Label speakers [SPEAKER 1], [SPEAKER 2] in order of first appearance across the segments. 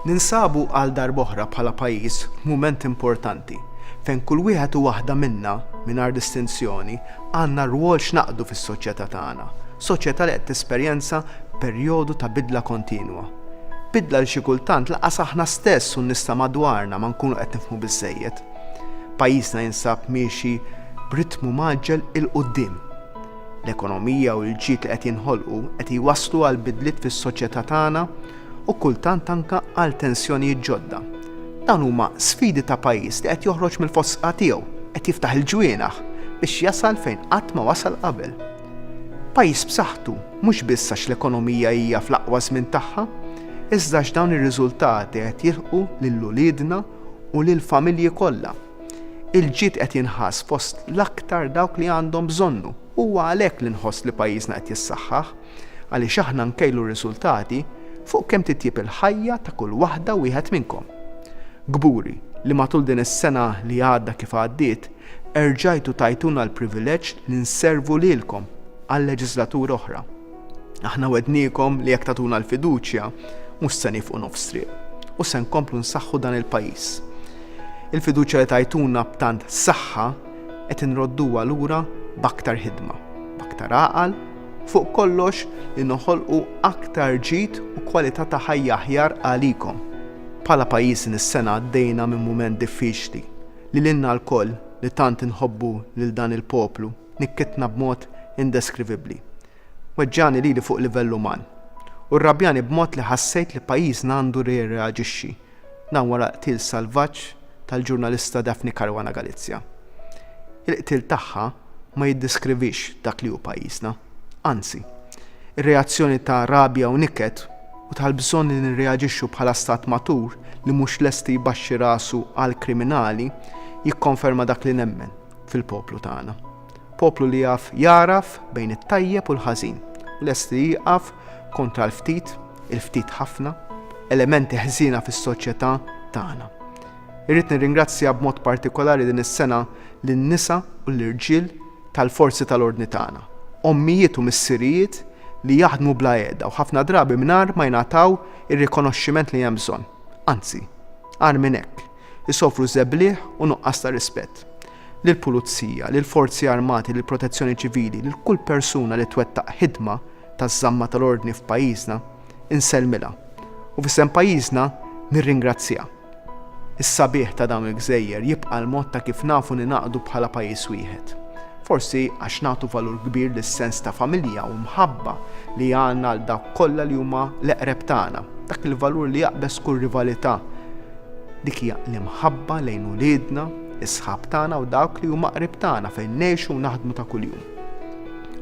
[SPEAKER 1] Ninsabu għal darb'oħra bħala pajjiż f'mument importanti fejn kull wieħed u waħda minna, mingħajr distinzjoni, għandna rwol x'naqdu fis-soċjetà tagħna, soċjetà li qed tesperjenza perjodu ta' bidla kontinwa. Bidla li xi kultant lanqas aħna stess u n-nies ta' madwarna ma nkunu qed nifhmu biżżejjed. Pajjiżna jinsab miexi b'ritmu mgħaġġel 'il quddiem. L-ekonomija u l-ġid li qed jinħolqu qed jwasslu għal bidliet fis-soċjetà tagħna u kultant anke għal tensjonijiet ġodda. Dawn huma sfidi ta' pajjiż li qed joħroġ mill-fosqgħa tiegħu, qed jiftaħ il-ġwienaħ biex jasal fejn qatt ma wasal qabel. Pajjiż b'saħħtu mhux biss għax l-ekonomija hija fl-aqwa żmien tagħha, iżda għax dawn ir-riżultati qed jilħqu lil uliedna u lill-familji kollha. Il-ġid qed jinħass fost l-aktar dawk li għandhom bżonnu. Huwa għalhekk li nħoss li pajjiżna qed jissaħħaħ, għaliex aħna nkejlu r-riżultati fuq kemm titjieb il-ħajja ta' kull waħda u wieħed minnkom. Kburi li matul din is-sena li għadda kif għaddiet, erġajtu tajtuna l-privileġġ li nservu lilkom għal leġiżlatura oħra. Aħna wegħdniekom li jekk tagħtuna l-fiduċja, mhux se nieqfu nofs triq u se nkomplu nsaħħu dan il-pajjiż. Il-fiduċja li tajtuna b'tant saħħa qed inrodduha lura b'aktar ħidma, b'aktar għaqal fuq kollox li noħolqu aktar ġid u kwalità ta' ħajja aħjar għalikom. Bħala pajjiż din is-sena għaddejna minn mument diffiċli li lilna lkoll li tant inħobbu lil dan il-poplu nikkitna b'mod indeskrivibbli. Weġġagħni lili fuq livell uman. U rrabjani b'mod li ħassejt li pajjiżna għandu jirreaġixxi, dan wara l-qtil salvaġġ tal-ġurnalista Daphne Caruana Galizia. Il-qtil tagħha ma jiddiskrivix dak li hu pajjiżna. Anzi. Ir-reazzjoni ta' rabja u niket u tal-bżonn li nirreaġixxu bħala stat matur li mhux lest li jbaxxi rasu għall-kriminali jikkonferma dak li nemmen. fil-poplu tagħna. Poplu li jaf jagħraf bejn it-tajjeb u l-ħażin u lest li jieqaf kontra l-ftit, il-ftit ħafna, elementi ħżiena fis-soċjetà tagħna. Irrid nirringrazzja b'mod partikolari din is-sena lin-nisa u l-irġiel tal-forzi tal-ordni tagħna, ommijiet u missirijiet li jaħdmu bla qiegħda u ħafna drabi mingħajr ma jingħataw ir-rikonoxximent li hemm bżonn. Anzi, agħar minn hekk, isofru żebliegħ u nuqqas ta' rispett. Lill-Pulizija, lill-Forzi Armati, lill-Protezzjoni Ċivili, lil kull persuna li twettaq ħidma taż-żamma tal-ordni f'pajjiżna, insellmilha, u f'isem pajjiżna nirringrazzjha. Is-sabiħ ta' dawn il-gżejjer jibqa' l-mod ta' kif nafu ningħaqdu bħala pajjiż wieħed. Forsi għax nagħtu valur kbir lis-sens ta' familja u mħabba li għandna għal dawk kollha li huma l-eqreb tagħna, dak il-valur li jaqbeż kull rivalità, Dik hija l-imħabba lejn uliedna, is-sħab tagħna u dawk li huma qrib tagħna fejn ngħixu u naħdmu ta' kuljum.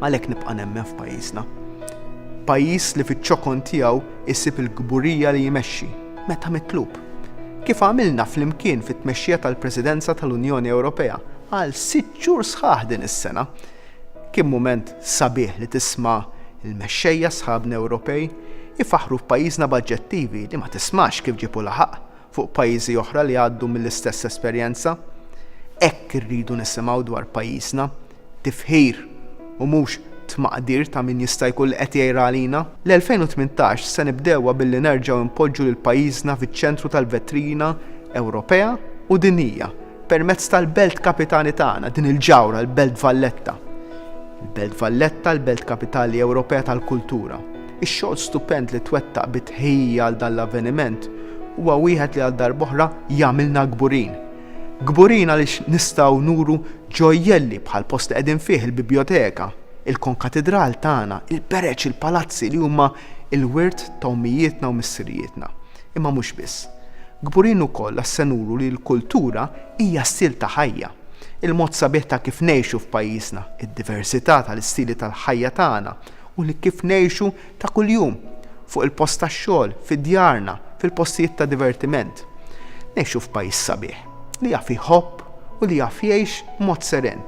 [SPEAKER 1] Għalhekk nibqa' nemmen f'pajjiżna. Pajjiż li fiċ-ċokon tiegħu jsib il-kburija li jmexxi, meta mitlub. Kif għamilna flimkien fit-tmexxija tal-Presidenza tal-Unjoni Ewropea għal sitt xhur sħaħ din is-sena, Kien mument sabiħ li tisma' l-mexxejja sħabna Ewropej ifaħħru f'pajjiżna b'aġġettivi li ma tismax kif ġiebu laħaq fuq pajjiżi oħra li għaddu mill-istess esperjenza. Hekk irridu nisimgħu dwar pajjiżna, tifħir u mhux tmaqdir ta' min jista' jkun li qed jgħir għalina. L-2018 se nibdewha billi nerġgħu npoġġu lil pajjiżna fiċ-ċentru tal-vetrina Ewropea u dinjija Permezz tal-Belt Kapitali tagħna, din il-ġawhra, l-Belt Valletta. Il-Belt Valletta, l-Belt Kapitali Ewropea tal-Kultura. Ix-xogħol stupend li twettaq bi tħejjija għal dan l-avveniment huwa wieħed li għal darb'oħra jagħmilna kburin. Kburin għaliex nistgħu nuru ġojjelli bħall-post li qegħdin fih, il-Bibjoteka, il-Konkatidral tagħna, il-Bereġ, il-Palazzi li huma l-wirt ta' ommijietna u missirijietna. Imma mhux biss. Kburin ukoll għax se nuru li l-kultura hija stil ta' ħajja. Il-mod sabiħ ta' kif ngħixu f'pajjiżna, id-diversità tal-istili tal-ħajja tagħna u li kif ngħixu ta' kuljum, fuq il-post tax-xogħol, fi djarna, fil-postijiet ta' divertiment. Ngħixu f'pajjiż sabiħ, li jaf iħobb u li jaf jgħix b'mod seren.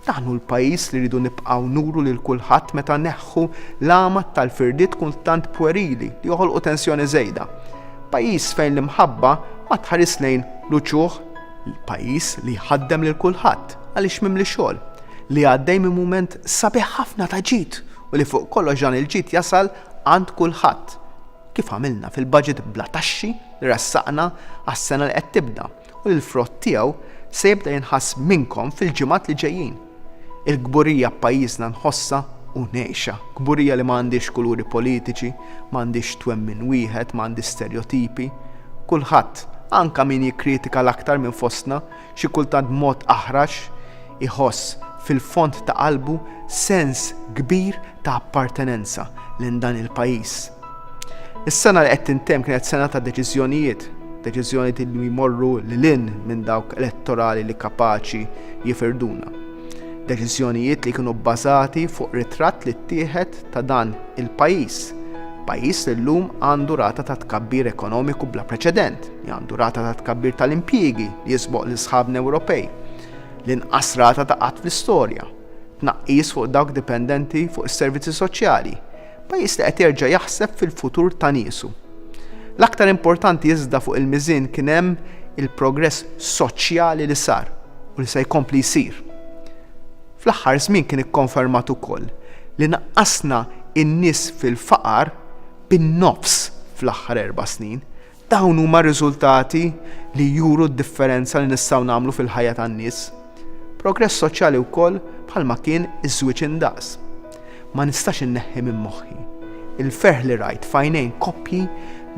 [SPEAKER 1] Dan hu l-pajjiż li rridu nibqgħu nuru lil kulħadd meta neħħu l-għama tal-firdiet kultant pwerili li joħolqu tensjoni żejda. Pajjiż fejn l-imħabba ma tħaris lejn l-uċuħ. Pajjiż li jħaddem lil kulħadd għaliex mimli xogħol, li għaddej minn mument sabiħ ħafna ta' ġid u li fuq kollox dan il-ġid jasal għand kulħadd, kif għamilna fil-budget bla taxxi li ressaqna għas-sena li qed tibda. u li l-frott tiegħu se jibda jinħass minnkom fil-ġimgħat li ġejjin. Il-kburija b'pajjiżna nħossha u ngħixha, kburija li ma għandhiex kuluri politiċi, ma għandhiex twemmin wieħed, ma għandhiex sterjotipi. Kulħadd, anke min jikkritika l-aktar minn fostna, xi kultant b'mod aħrax, iħoss fil-fond ta' qalbu sens kbir ta' appartenenza lejn dan il-pajjiż. Is-sena li qed tintemm kienet sena ta' deċiżjonijiet, deċiżjonijiet li jmorru lil hinn minn dawk elettorali li kapaċi jifirduna. Deċiżjonijiet li kienu bbażati fuq ritratt li ttieħed ta' dan il-pajjiż pajjiż li llum għandu rata ta' tkabbir ekonomiku bla preċedent, li għandu rata ta' tkabbir tal-impjiegi li jisboq l sħabna Ewropej, l-inqas rata ta' qatt fl-istorja, tnaqqis fuq dawk dipendenti fuq is-servizzi soċjali, Pajjiż li qed jerġa' jaħseb fil-futur ta' niesu. L-aktar importanti iżda fuq il-miżien kien hemm il-progress soċjali li sar u li se jkompli jsir. Fl-aħħar żmien kien ikkonfermat ukoll li naqqasna n-nies fil-faqar bin-nofs fl-aħħar erba' snin, Dawn huma r-riżultati li juru d-differenza li nistgħu nagħmlu fil-ħajja tan-nies. Progress soċjali wkoll bħalma kien iż-żwieġ indaqs. Ma nistax inneħħi minn moħħi l-ferħ li rajt f'għajnejn koppji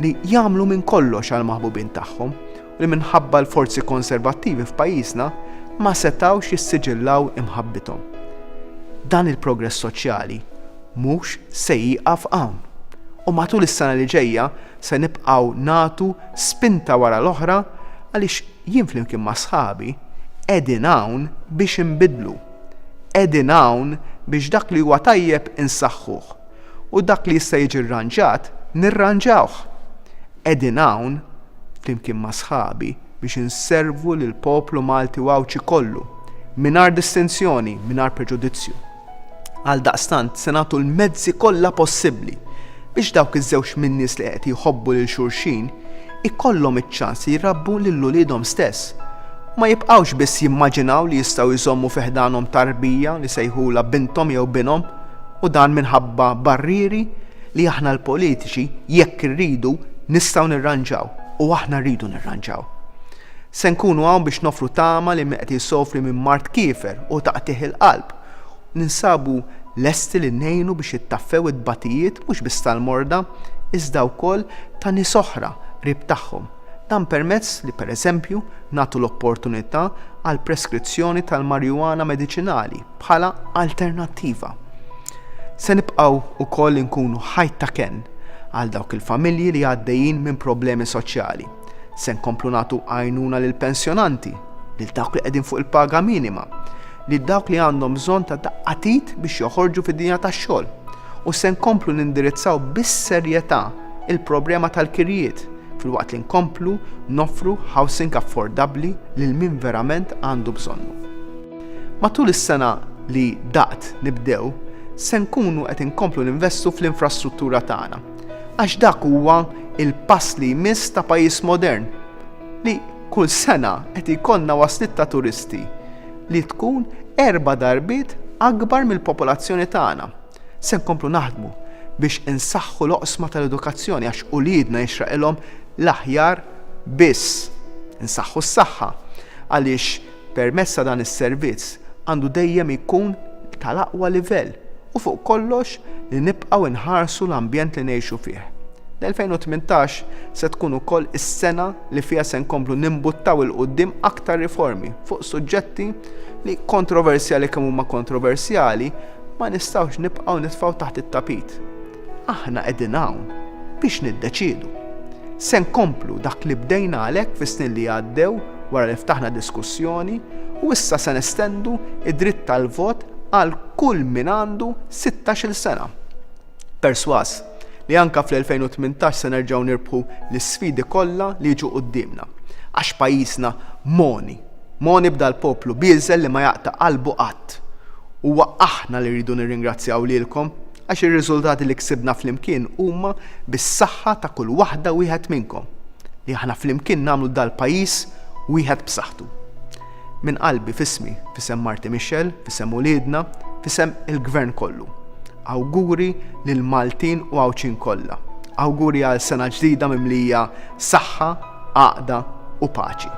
[SPEAKER 1] li jagħmlu minn kollox għall-maħbubin tagħhom u li minħabba l-forzi konservattivi f'pajjiżna ma setgħux jissiġillaw imħabbithom. Dan il-progress soċjali mhux se jieqaf hawn u matul is-sena li ġejja Se nibqgħu nagħtu spinta wara l-oħra għaliex jien flimkien ma' sħabi qegħdin hawn biex inbiddlu. Qegħdin hawn biex dak li huwa tajjeb insaħħuh u dak li jista' jiġi rranġat nirranġawh. Qegħdin hawn flimkien ma' sħabi biex inservu lill-poplu Malti u Għawdxi kollu mingħajr distinzjoni, mingħajr preġudizzju. Għaldaqstant se nagħtu l-mezzi kollha possibbli biex dawk iż-żewġ min-nies li qed jħobbu lil xulxin ikollhom iċ-ċans li jrabbu lil uliedhom stess u ma jibqgħux biss jimmaġinaw li jistgħu jżommu fi ħdanhom tarbija li sejħulha binthom jew binhom u dan minħabba barrieri li aħna l-politiċi jekk irridu nistgħu nirranġaw u aħna rridu nirranġaw. Se nkunu hawn biex noffru tama lil min qed isofri minn mard kiefer u taqtigħ il-qalb. Ninsabu lesti li ngħinu biex jittaffew it-tbatijiet mhux biss tal-morda, iżda wkoll ta' nies oħra qrib tagħhom. Dan permezz li, pereżempju, nagħtu l-opportunità għal preskrizzjoni tal-marijuana mediċinali bħala alternattiva. Se nibqgħu wkoll inkunu ħajt ta' kenn għal dawk il-familji li għaddejjin minn problemi soċjali. Se nkomplu nagħtu għajnuna lill-pensjonanti, lil dawk li qegħdin fuq il-paga minima, lil dawk li għandhom bżonn ta' daqqa t'id biex joħorġu fid-dinja tax-xogħol u se nkomplu nindirizzaw bis-serjetà l-problema tal-kirjiet filwaqt li nkomplu noffru housing affordabbli lil min verament għandu bżonnu. Matul is-sena li daqt nibdew, se nkunu qed inkomplu ninvestu fl-infrastruttura tagħna, Għax dak huwa l-pass li jmiss ta' pajjiż modern li kull sena qed jkollna wasliet ta' turisti li tkun erba' darbiet akbar mill-popolazzjoni tagħna. Se nkomplu naħdmu biex insaħħu l-oqsma tal-edukazzjoni għax uliedna jixraqilhom l-aħjar biss. Insaħħu s-saħħa għaliex Permezz ta' dan is-servizz għandu dejjem jkun tal-aqwa livell u fuq kollox li nibqgħu inħarsu l-ambjent li ngħixu fih. L-2018 se tkun ukoll is-sena li fiha se nkomplu nimbuttaw 'il quddiem aktar riformi fuq suġġetti li, kontroversjali kemm huma kontroversjali, ma nistgħux nibqgħu nitfgħu taħt it-tapit. Aħna qegħdin hawn biex niddeċiedu. Se nkomplu dak li bdejna għalhekk fis-snin li għaddew wara li ftaħna diskussjoni u issa se nestendu d-dritt tal-vot għal kull min għandu sittax-il sena. Persważ li anke fl-2018 se nerġgħu nirbħu l-isfidi kollha li jiġu quddiemna. Għax pajjiżna mogħni. Mogħni b'dal-poplu bieżel li ma jaqta' qalbu qatt. Huwa aħna li rridu nirringrazzjaw lilkom, Għax ir-riżultati li ksibna flimkien huma bis-saħħa ta' kull waħda u wieħed minnkom, li aħna flimkien nagħmlu dal-pajjiż wieħed b'saħħtu. Minn qalbi, f'ismi, f'isem marti Michelle, f'isem uliedna, f'isem il-Gvern kollu, awguri lill-Maltin u Għawdxin kollha. Awguri għal sena ġdida mimlija saħħa, għaqda u paċi.